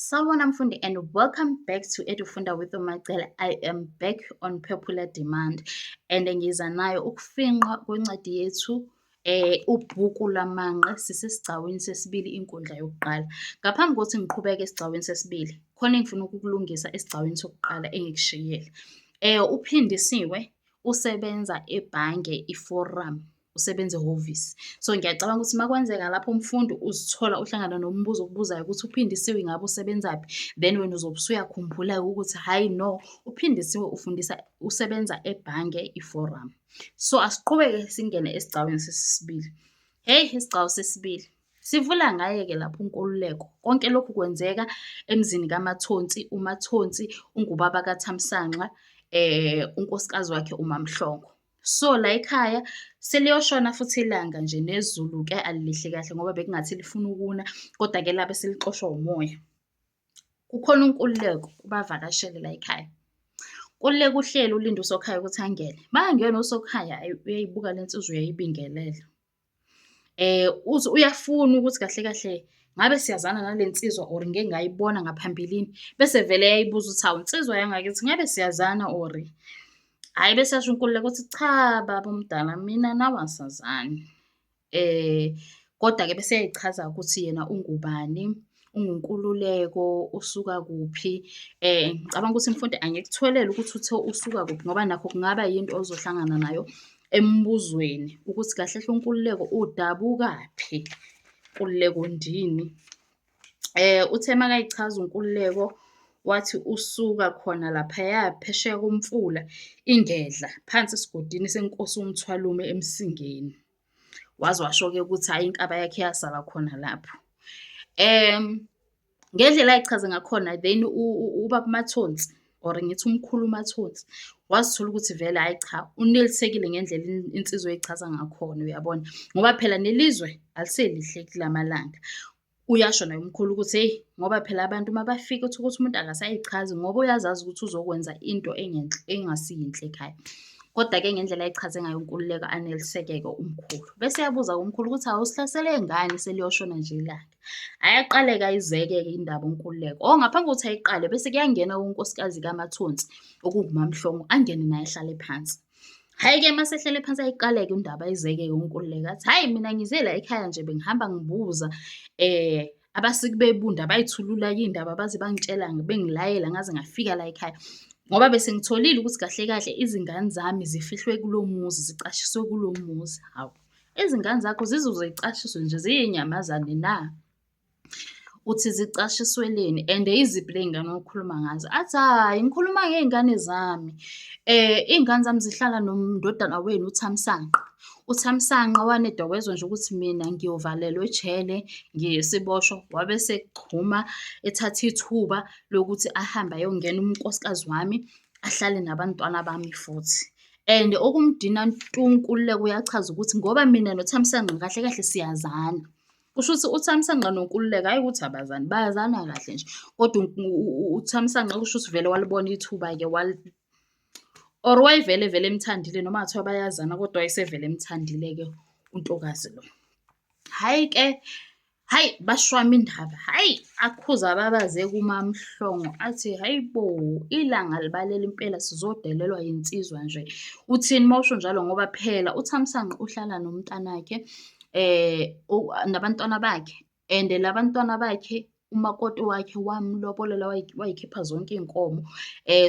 Sawubona mfundi and welcome back to Edufunda with Umacele. I am back on popular demand and ngiza nayo ukufinqwa kwencwadi yethu eh ubhuku lamanqe sisesigcawini sesibili inkundla yokuqala. Ngaphambi kokuthi ngiqhubeke esigcawini sesibili, khona engifuna ukukulungisa esigcawini sokuqala engikushiyile. Eh uphindisiwe usebenza ebhange iForum. usebenza ehhovisi. So ngiyacabanga ukuthi uma kwenzeka lapho umfundi uzithola uhlangana nombuzo okubuzayo ukuthi uphindisiwe ngabe usebenzaphi, then wena uzobe usuyakhumbula-ke ukuthi hhayi no, uphindisiwe ufundisa usebenza ebhange iforum. So asiqhubeke singene esigcawini sesisibili. Hheyi isigcawu sesibili. Sivula ngaye-ke lapho uNkululeko. Konke lokhu kwenzeka emzini kaMathonsi, uMathonsi ungubaba kaThamsanqa, um unkosikazi wakhe uMaMhlongo. So la ekhaya seliyoshona futhi ilanga nje nezulu-ke alilihle kahle ngoba bekungathi lifuna ukuna, koda-ke labe selixoshwa umoya. Kukhona unkululeko ubavakashele la ekhaya. Kululeka uhleli ulinde uSokhaya ukuthi angene. Makangena uSokhaya, ayi uyayibuka le nsizwa uyayibingelela. Uze uyafuna ukuthi kahle kahle ngabe siyazana nale nsizwa or ngike ngayibona ngaphambilini, bese vele eyayibuza ukuthi, hawu nsizwa yangakithi ngabe siyazana or hhayi? Bese eyasho inkululeko ukuthi cha baba omdala mina nawe asazani. Kodwa-ke bese eyayichaza ukuthi yena ungubani, unguNkululeko usuka kuphi. Ngicabanga ukuthi mfundi angikutholele ukuthi uthe usuka kuphi ngoba nakho kungaba yinto ozohlangana nayo embuzweni ukuthi kahle kahle uNkululeko udabukaphi, Nkululeko ndini. Uthe makayichaza uNkululeko wathi usuka khona laphaya phesheya komfula ingedla phansi esigodini senkosi uMthwalume eMsingeni. waze washo-ke ukuthi hhayi inkaba yakhe yasala khona lapho um ngendlela ayichaze ngakhona then ubaba mathonsi or ngithi umkhulu umathonsi wazithola ukuthi vele hhayi cha unelisekile ngendlela insizwa eyichaza ngakhona uyabona ngoba phela nelizwe aliselihle kulamalanga Uyasho naye umkhulu ukuthi hheyi ngoba phela abantu uma bafika uthole ukuthi umuntu akasayichazi ngoba uyazazi ukuthi uzokwenza into engenhle engasiyinhle ekhaya. Kodwa-ke ngendlela ayichaze ngayo uNkululeko anelisekeke umkhulu. Bese yabuza umkhulu ukuthi awusihlasele ngani seliyoshona nje ilanga. Ayaqaleka ayizeke-ke indaba uNkululeko. Oh ngaphambi kokuthi ayiqale bese kuyangena unkosikazi kaMathonsi okungumamhlongo angene naye ahlale phansi. Hhayi-ke uma sehlele phansi ayiqaleke indaba izeke yonkululeka athi hhayi mina ngize la ekhaya nje bengihamba ngibuza um abasiki bebunda bayithulula yindaba baze bangitshela bengilayela ngaze ngafika la ekhaya ngoba bese ngitholile ukuthi kahle kahle izingane zami zifihlwe kulo muzi zicashiswe kulo muzi hawu izingane zakho zizoze zicashiswe nje ziyinyamazane na Uthi zicashisweleni and yiziphi ley'ngane okhuluma ngazo? Athi, hhayi ngikhuluma ngey'ngane zami. Iy'ngane zami zihlala nomndodana wenu uThamsanqa. UThamsanqa waneda wezwa nje ukuthi mina ngiyovalelwa ejele, ngiyisiboshwa, wabe esechuma ethatha ithuba lokuthi ahambe ayongena unkosikazi wami, ahlale nabantwana bami futhi. And okumdina ntu uNkululeko uyachaza ukuthi ngoba mina noThamsanqa kahle kahle siyazana. Kusho ukuthi uThamsanqa noNkululeko hhayi ukuthi abazani, bayazana kahle nje kodwa uThamsanqa kusho ukuthi vele walibona ithuba-ke or wayevele vele emthandile noma kungathiwa bayazana kodwa wayesevele emthandile-ke untokazi lo. Hhayi-ke, hhayi bashwama indaba, hhayi akhuza ababaze kuMaMhlongo athi hhayi bo, ilanga libalele impela sizodelelwa yinsizwa nje. Uthini uma usho njalo ngoba phela uThamsanqa uhlala nomntanakhe nabantwana bakhe and labantwana bakhe umakoti wakhe wamlobolela wayikhipha zonke iy'nkomo.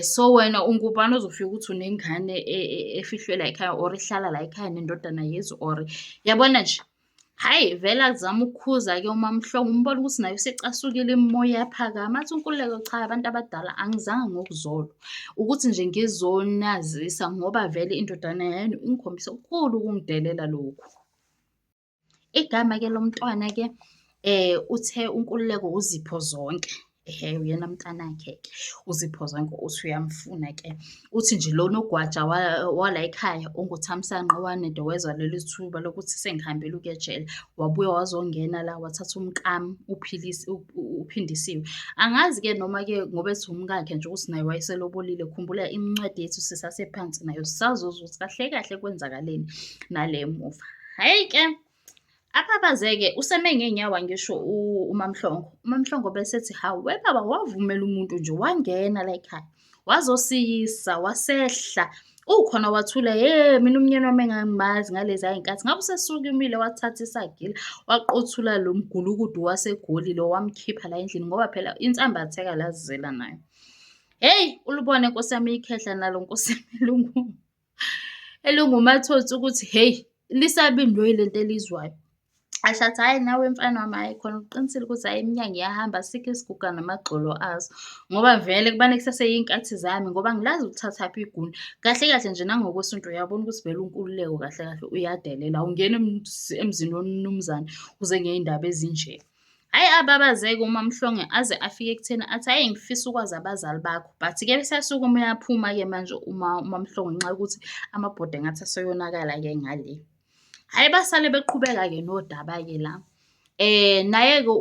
So wena ungubani ozofika ukuthi unengane e, e, efihlwe la ekhaya or ihlala la ekhaya nendodana yezi or yabona nje. Hhayi vele azame ukukhuza-ke uMaMhlongo umbone ukuthi naye usecasukile imimoya iyaphakama. Athi uNkululeko cha abantu abadala angizanga ngokuzolwa, ukuthi nje ngizonazisa ngoba vele indodana yenu ingikhombisa okukhulu ukungidelela lokhu. Igama-ke lomntwana-ke uthe uNkululeko uZipho Zonke. Ehhe, uyena mntanakhe-ke uZipho Zonke uthi uyamfuna-ke. Uthi nje lona ugwaja wala ekhaya unguThamsanqa owanedo wezwa leli thuba lokuthi sengihambile ukuya ejele, wabuya wazongena la wathatha umkami uPhilisa uphindisiwe angazi ke noma ke ngoba ethi umkakhe nje ukuthi naye wayeselobolile khumbula imincwadi yethu sisasephansi nayo sisazozwa ukuthi kahle kahle kwenzakaleni nale muva hhayi ke Aphaphaze-ke useme ngey'nyawo angisho uMaMhlongo. UMaMhlongo bese ethi, hhawu webaba wavumela umuntu nje wangena layikhaya. wazosiyisa wasehla ukhona wathula ye mina umnyeni wami engangimazi ngalezi ayinkathi ngabe usesukumile wathatha isagila waqothula lo mgulukudu wasegoli lo wamkhipha la endlini ngoba phela insambe atheka lazizela nayo heyi ulubone nkosi yami ikhehla nalo nkosi yami lungu elingumathonsi ukuthi hheyi lisabe indwe lento elizwayo. Asho athi, hhayi nawe mfana wami hhayi khona uqinisile ukuthi hhayi iminyanya iyahamba asikho isiguga namagxolo azo. Ngoba vele kubane kusaseyinkathi zami ngoba angilazi ukuthathaphi iguni. Kahle kahle nje nangokwesintu uyabona ukuthi vele unkululeko kahle kahle uyadelela, awungeni emzini womnumzane uze ngey'ndaba ezinje. Hhayi ababazeke uMaMhlongo aze afike ekutheni athi hhayi ngifisa ukwazi abazali bakho but-ke useyasukume uyaphuma-ke manje uMaMhlongo ngenxa yokuthi amabhodwe engathi aseyonakala-ke ngale. Hhayi basale beqhubeka-ke nodaba-ke la naye-ke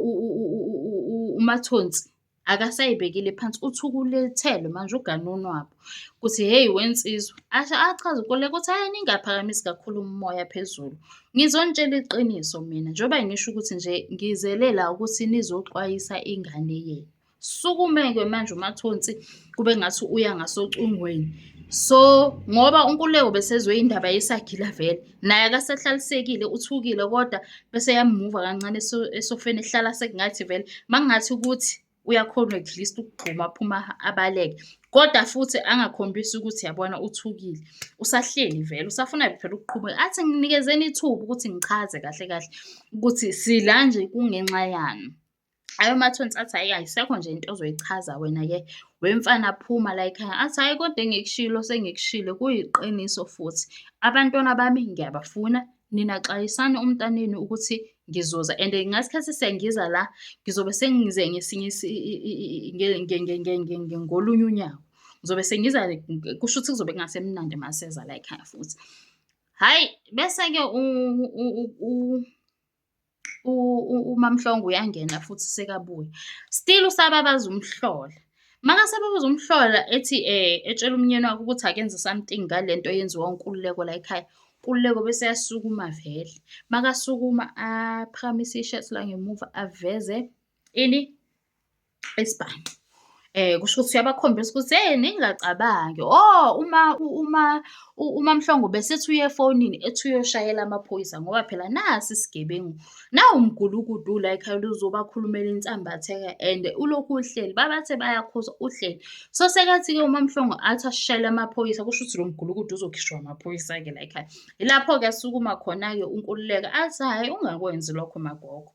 uMathonsi. akasayibekile phansi uthi ukulethelwe manje ugane unwabu ukuthi hheyi wensizwa asho achaze ukoleka ukuthi hhayi ningaphakamisi kakhulu umoya phezulu ngizonitshela iqiniso mina njengoba ngisho ukuthi nje ngizelela ukuthi nizoxwayisa ingane yenu sukumeke manje umathonsi kube ngathi uya ngasocingweni so ngoba unkululeko besezwe indaba yesagila vele naye akasahlalisekile uthukile kodwa bese yamuva kancane esofeni ehlala sekungathi vele makungathi ukuthi uyakhona at least ukugxuma aphuma abaleke kodwa futhi angakhombisi ukuthi yabona uthukile usahleli vele usafuna phela ukuqhubeka athi nginikezeni ithuba ukuthi ngichaze kahle kahle ukuthi sila nje kungenxa yani Ayomathonsi athi hhayi ayisekho nje into ozoyichaza wena-ke wemfana phuma layikhaya. Athi hhayi kodwa engikushilo sengikushilo kuyiqiniso futhi. Abantwana bami ngiyabafuna, nina xwayisani umntanenu ukuthi ngizoza and ngasikhathi sengiza la ngizobe sengize ngesinye ngolunye unyawo. Ngizobe sengiza kusho ukuthi kuzobe kungasemnandi maseza layikhaya futhi. Hhayi, bese-ke uMaMhlongo uyangena futhi sekabuya. Still usababaza umhlola. Makase ababaza umhlola ethi etshela umnyeni wakhe ukuthi akenze something ngale nto eyenziwa uNkululeko la ekhaya. Nkululeko bese eyasukuma vele. Makasukuma aphakamise ishirt la ngemuva aveze ini? isibhaxu. Kusho ukuthi uyabakhombisa ukuthi hheyi ningacabangi o uma uma uMaMhlongo ubesethi uya efonini ethi uyoshayela amaphoyisa ngoba phela nasi isigebengu, nawu umgulukudu ula ekhaya ula uzobakhulumela insambatheka and ulokhu uhleli babathe bayakhuza uhleli. So sekathi-ke uMaMhlongo athi ashayele amaphoyisa kusho ukuthi lo mgulukudu uzokhishwa amaphoyisa-ke layikhaya. Ilapho-ke asukuma khona-ke uNkululeko athi hhayi ungakwenzi lokho magogo.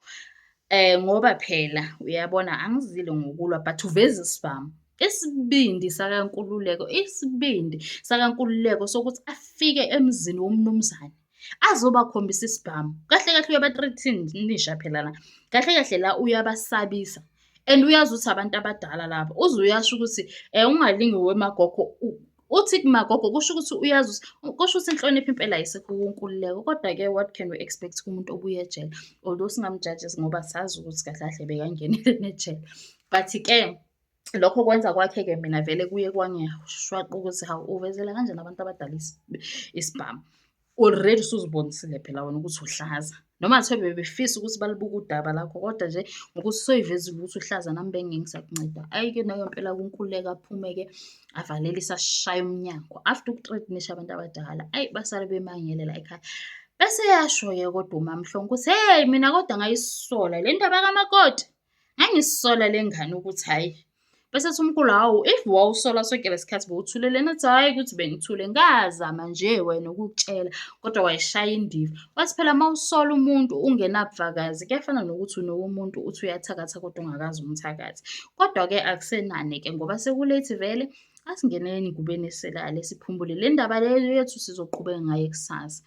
Eh ngoba phela uyabona angizile ngokulwa but uveza isibhamu. Isibindi sakaNkululeko, isibindi sakaNkululeko sokuthi afike emzini womnumzane azobakhombisa isibhamu. Kahle kahle uyaba-threatenisha phela la. Kahle kahle la uyabasabisa and uyazi ukuthi abantu abadala laba. Uze uyasho ukuthi um ungalingi wemagogo uthi kumagogo kusho ukuthi uyazi ukuthi kusho ukuthi inhlonipho impela ayisekho kunkululeko kodwa-ke what can we expect kumuntu obuye ejele although singamjajes ngoba sazi ukuthi kahle kahle bekangenele nejele but-ke lokho kwenza kwakhe-ke mina vele kuye kwangishwaqa ukuthi hawu uvezela kanjani abantu abadala isibhamu Already usuzibonisile phela wena ukuthi uhlaza noma kuthiwa bebefisa ukuthi balibuke udaba lakho kodwa nje ngokuthi soyivezile ukuthi uhlaza nami bengeke ngisakunceda ayi-ke nayo mpela kunkululeka aphume-ke avalelise ashaya umnyango after ukutredinisha abantu abadala ayi basale bemangelela ekhaya bese yasho-ke kodwa umamhlongo ukuthi heyi mina kodwa ngayisola le ndaba kamakoti Ngangisola le ngane ukuthi hhayi, bese ethi umkhulu hawu if wawusola sonke le sikhathi bowuthule lena, ethi hhayi ukuthi bengithule, ngazama nje wena ukukutshela kodwa wayishaya indiva. Wathi phela uma usola umuntu ungenabufakazi kuyafana nokuthi unowomuntu uthi uyathakatha kodwa ungakaze umthakathi. Kodwa-ke akusenani-ke ngoba sekulethi vele asingeneni ngubeni eselale siphumule le ndaba le yethu sizoqhubeka ngayo kusasa.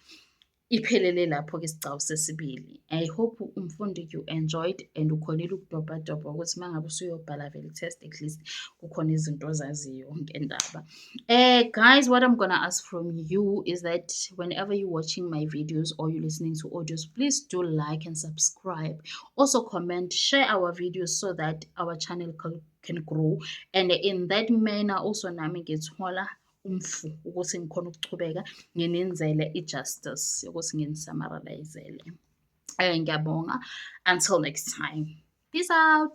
Iphelele lapho ke isigcawu sesibili. I hope umfundi you enjoyed and ukhonile ukudobhadobha ukuthi uma ngabe usuyobhala vele test at least kukhona izinto ozaziyo ngendaba. Eh guys what I'm gonna ask from you is that whenever you watching my videos or you listening to audios please do like and subscribe. Also comment, share our videos so that our channel can grow and in that manner also nami ngithola umfu ukuthi ngikhona ukuchubeka nginenzele i-justice yokuthi nginisamaralizele um eh, ngiyabonga until next time peace out